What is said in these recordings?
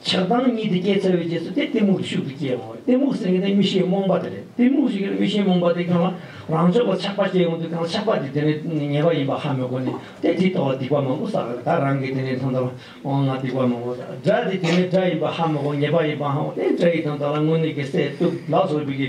ཆགས་སྡང་གཉིས་དེ་སྐྱེས་ཚར་བའི་རྗེས་སུ་དེ་གཏི་མུག་གི་ཤུགས་ཀྱིས་སྐྱེ་འོང་གཏི་མུག་ཟེར་མཁན་དེ་མི་ཤེས་རྨོངས་པ་དེ་རེད་གཏི་མུག་ཟེར་མཁན་མི་ཤེས་རྨོངས་པ་དེ་གང་ལ་རང་ཕྱོགས་ལ་ཆགས་པ་སྐྱེས་འོང་དུས་གང་ཆགས་པ་དེ་དེ་ནས་ཉེས་པ་ཡིན་པ་ཧ་མི་གོ་ནས་དེ་དེའི་ཐོག་ལ་སྡིག་པ་མང་པོ་བསགས་ལ་ད་རང་གིས་དེ་ནས་ཐོན་ཐབས་འོང་ང་སྡིག་པ་མང་པོ་བསགས་དགྲ་དེ་དེ་ནས་དགྲ་ཡིན་པ་ཧ་མི་གོ་ཉེས་པ་ཡིན་པའང་དེ་དགྲ་ཡིན་དང་ད་ལ་དངོས་གནས་ཀྱི་སྲས་གཙུག་ལག་ཟུར་བུ་ཀྱི།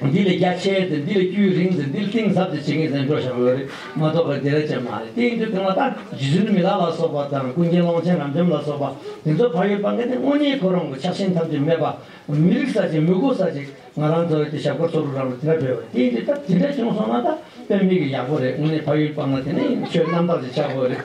འདི་ལས་རྒྱ་ཆེ་དེ་འདི་ལས་དཀྱུས་རིང་དེ་འདི་ལས་གཏིང་ཟབ་དེ་བྱེད་མཁན་གཟེངས་བསྟོད་བྱ་དགོས་རེད་མ་གཏོགས་པ་དེ་རེད་ཅེས་མ་རེད་དེའི་འདུག་དེ་མ་ཐག་རྗེ་བཙུན་མི་ལ་ལ་སོགས་པ་དང་ཀུན་མཁྱེན་ཀློང་ཆེན་རབ་འབྱམས་ལ་སོགས་པ་དེ་ཚོ་བག་ཡོད་སྤང་མཁན་དེ་དངོས་གཉེན་ཁོ་རང་གི་ཕྱག་ཆེན་ཐམས་ཅད་སྨད་པ་མི་རིགས་ས་ཅིག་མི་གོ་ས་ཅིག་ང་རང་ཚོ་རེད་དེ་ཞབས་དཀར་ཚོགས་དྲུག་རང་ལ་དེ་འདྲ་བོད་པ་དེའི་འདི་ལྟར་དེ་འདྲ་བྱུང་སོང་ན་ད་དཔེ་མེད་ཀི་ཡག་པོ་རེད་དངོས་གནས་བག་ཡོད་སྤང་ན་དེ་ནས་ཡིན་ཆོས་རྣམ་དག་ཅིག་བྱ་དགོས་རེད།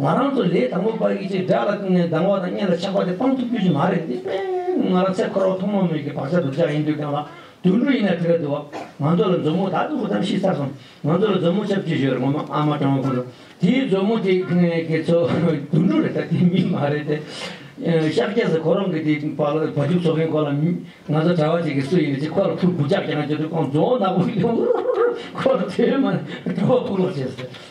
ང་རང་ཚོ་ལས་དང་པོ་པར་ཡིད་ཆེས་དགྲ་ལ་བསྐུལ་ནས་སྡང་བ་དང་གཉེན་ལ་ཆགས་པ་དེ་སྤང་ཐུབ་རྒྱུ་ཞིག་མ་རེད་འདི་དཔེར་ན་ང་རང་ཚེ་འཁོར་བ་ཐོག་མ་མོད་ཀྱི་བག་ཆགས་སྡུག་ཅག་ཡིན་དུས་གང་ལ་དུད་འགྲོ་ཡིན་ན་དེ་ག་དུ་བ་ང་ཚོ་ལ་མཛོ་མོ་དག་ཏུ་བུ་དམ་ཤི་ཚར་སོང་ང་ཚོ་ལ་མཛོ་མོ་ཆབ་ཅིག་ཞུ་རེ་ངོ་མ་ཨ་མ་གྲང་བ་ཁོ་ཚོ་དེའི་མཛོ་མོ་དེ་གི་ཚོ་དུད་འགྲོ་རེད་ད་དེ་མི་མ་རེད་དེ། ཤག་རྒྱ་ཟེར་ཁོ་རང་གི་དེ་བ་ལ་བ་ཕྱུགས་འཚོ་མཁན་ཁོ་ལ་ང་ཚོ་གྲྭ་བ་ཅིག་གིས་སུ་ཡིན་ནས་ཅིག་ཁོ་ལ་ཕུར་བུ་ཅག་རྒྱག་ན་རྒྱུ་དུས་ཁོང་མཛོ་བོ་ནག་པོ་ཞིག་ཡོང་ཁོ་ལ་དེའི་མ་ནས་གྲྭ་བ་ཕུར་ལོག་བྱེད་ཟེར།